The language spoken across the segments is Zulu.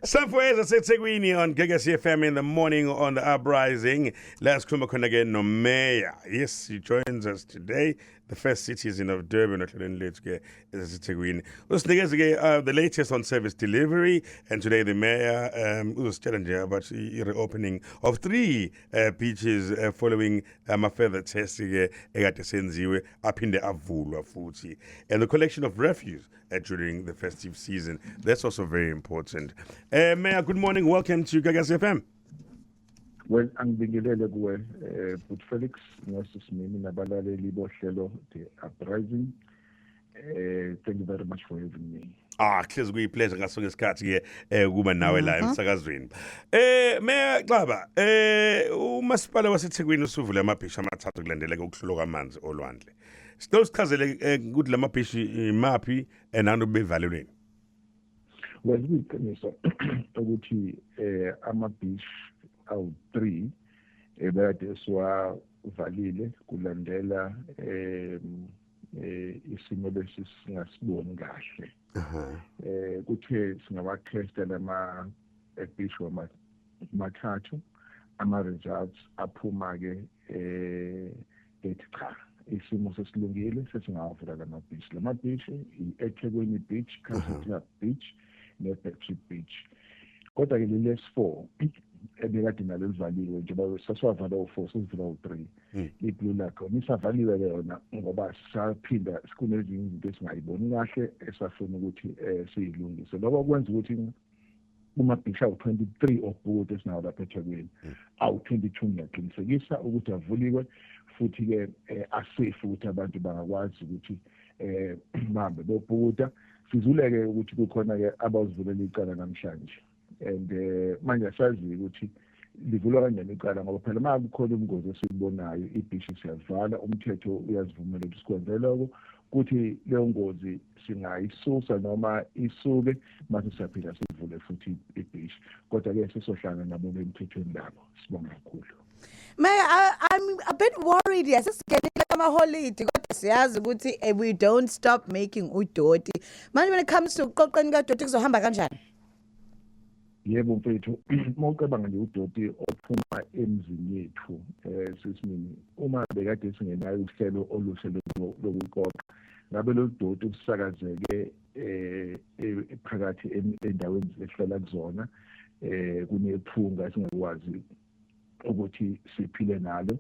Safweza seThekwini on Gagasi FM in the morning on the uprising. Let's come khona ke no mayor. Yes, he joins us today. The first citizen of Durban ohlelweni lethu ke eseThekwini. Usinikeze ke uh, the latest on service delivery and today the mayor um uzositshela nje about the reopening of three uh, beaches uh, following ama um, further tests ke ekade senziwe aphinde avulwa futhi and the collection of refuse uh, during the festive season. That's also very important. Uh, Mayor, good morning. Welcome to Gagas FM. well angibingelele kuwe eh but Felix ngosisimini nabalaleli bohlelo the uprising eh thank you very much for having me Ah, hlezi kuyipleasure ngaso ngesikhathi ke eh kuba nawe la Mhm. emsakazweni. Eh Mayor Xaba, eh umasipala waseThekwini usuvule amabhisha amathathu kulandeleka ukuhlulwa kwamanzi olwandle. Sicela usichazele eh, ukuthi lama beach imaphi and abantu bevalelweni. Well, iqiniso ukuthi eh ama beach awu-3 ebekade eh, siwavalile kulandela eh eh isimo lesi singasiboni kahle. Eh kuthe singawakhesta lama eh, beach wama mathathu ama results aphuma ke eh ethi cha isimo sesilungile sesingawavula la mabhishi la mabhishi i-ethekwini beach country club beach ne-battery beach kodwa ke leli s4 ebekade nalo livaliwe njengoba sasiwavala u-four sesivula u-three hmm. i-blue lakhona isavaliwe ke yona ngoba saphinda kunezinye izinto esingayiboni kahle esafuna ukuthi um siyilungise lokho kwenza ukuthi kumabhishi awu-23 obhuti esinawo lapha ethekwini hmm. awu-22 ngiyaqinisekisa ukuthi avuliwe futhi-ke um eh, asafe ukuthi abantu bangakwazi ukuthi um bahambe bobhukuda sizuleke ukuthi kukhona-ke abawuzivulela icala namhlanje and um manje asazi-ke ukuthi um livulwa kanjani icala ngoba phela uma kukhona ubungozi esibubonayo ibhishi siyalivala umthetho uyazivumela ukuthi sikwenze loko kuthi leyo ngozi singayisusa noma isuke mase siyaphila sivule futhi ibhishi kodwa-ke sesohlanga nabo bemthethweni labo sibonga kakhulu May I, I'm a bit worried yes sigenile amaholidi kodwa siyazi ukuthi eh, we don't stop making udoti manje when it comes to uqoqeni kadoti kuzohamba kanjani Yebo mfethu, uma ucabanga nje udoti ophuma emzini yethu eh sisimini uma bekade singenayo uhlelo oluhle lokuqoqa ngabe lolu doti usakazeke eh e-, phakathi endaweni esihlala kuzona eh kunephunga singakwazi ukuthi siphile nalo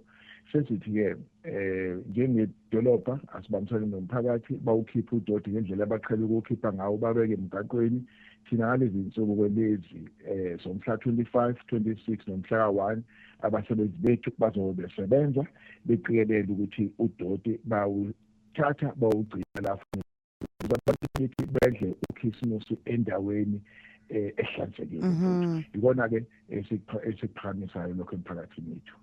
sesithi-ke eh njengedolobha asibambisane nomphakathi bawukhiphe udoti ngendlela abaqhele ukuwukhipha ngawo babeke emgaqweni thina ngalezi nsuku kwelezi eh somhla 25 26 nomhla ka-1 abasebenzi bethu bazobe besebenza beqikelele ukuthi udoti bawuthatha bawugcina la ukuthi bedle ukhisimusi endaweni eh, ehlanzekile mhm. yikona ke esiphakamisayo lokho emphakathini wethu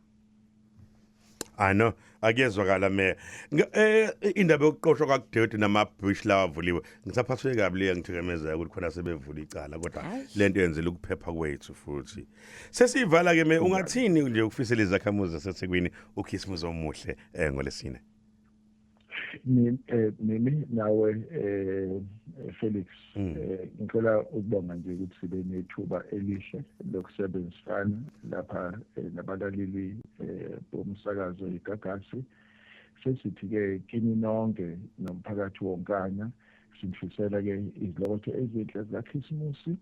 I know akuyezwakala me eh, indaba yokuqoshwa kwakudoti nama bush lawa avuliwe ngisaphaswe kabi le ngithikamezeka ukuthi khona sebevula icala kodwa lento yenzela ukuphepha kwethu futhi sesiyivala ke me ungathini nje ukufisela izakhamuzi zaseThekwini uKhisimuzi omuhle eh ngolesine Eh, mimi nawe eh, eh Felix hmm. eh, ngicela ukubonga nje ukuthi sibe nethuba elihle lokusebenzisana lapha eh, nabalaleli bomsakazo igagasi sesithi ke kini nonke nomphakathi wonkana sinifisela ke izilokotho ezinhle zikaKhisimusi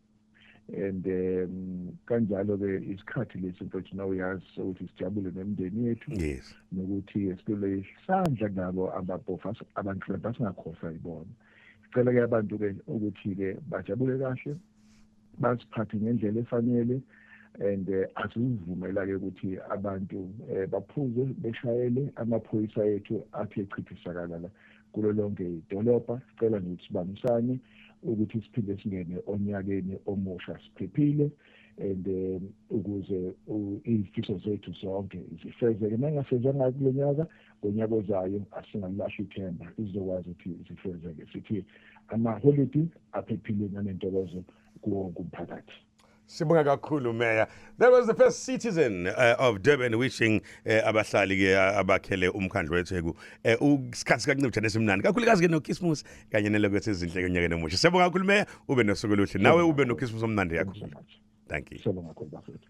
and um kanjalo ke isikhathi lesi mfethu na uyazi ukuthi sijabule nemndeni yethu yes nokuthi esibele isandla nabo ababhofa abantu labasingakhohlwa ibona sicela ke abantu ke ukuthi ke bajabule kahle basiphathe ngendlela efanele and eh, asizivumela ke ukuthi abantu eh, baphuze beshayele amaphoyisa ethu athi echithisakala la kulo lonke idolobha. Sicela nje ukuthi sibambisane ukuthi siphinde singene onyakeni omusha siphephile and eh, ukuze izifiso zethu zonke zifezeke nangasezanga kulo nyaka ngonyaka ozayo asingalilahla ithemba izokwazi ukuthi zifezeke sithi amaholidi aphephile nanentokozo kuwo wonke umphakathi Sibonga kakhulu Mayor. That was the first citizen uh, of Durban wishing uh, abahlali ke uh, abakhele umkhandlu weTheku uh, usikhathi kancipha nesimnandi. Kakhulukazi ke noKismus kanye nelokho sezinhle konyaka nomusha. Sibonga kakhulu Mayor, ube nosuku oluhle. Nawe ube noKismus omnandi yakho. Thank you. Sibonga kakhulu bafethu.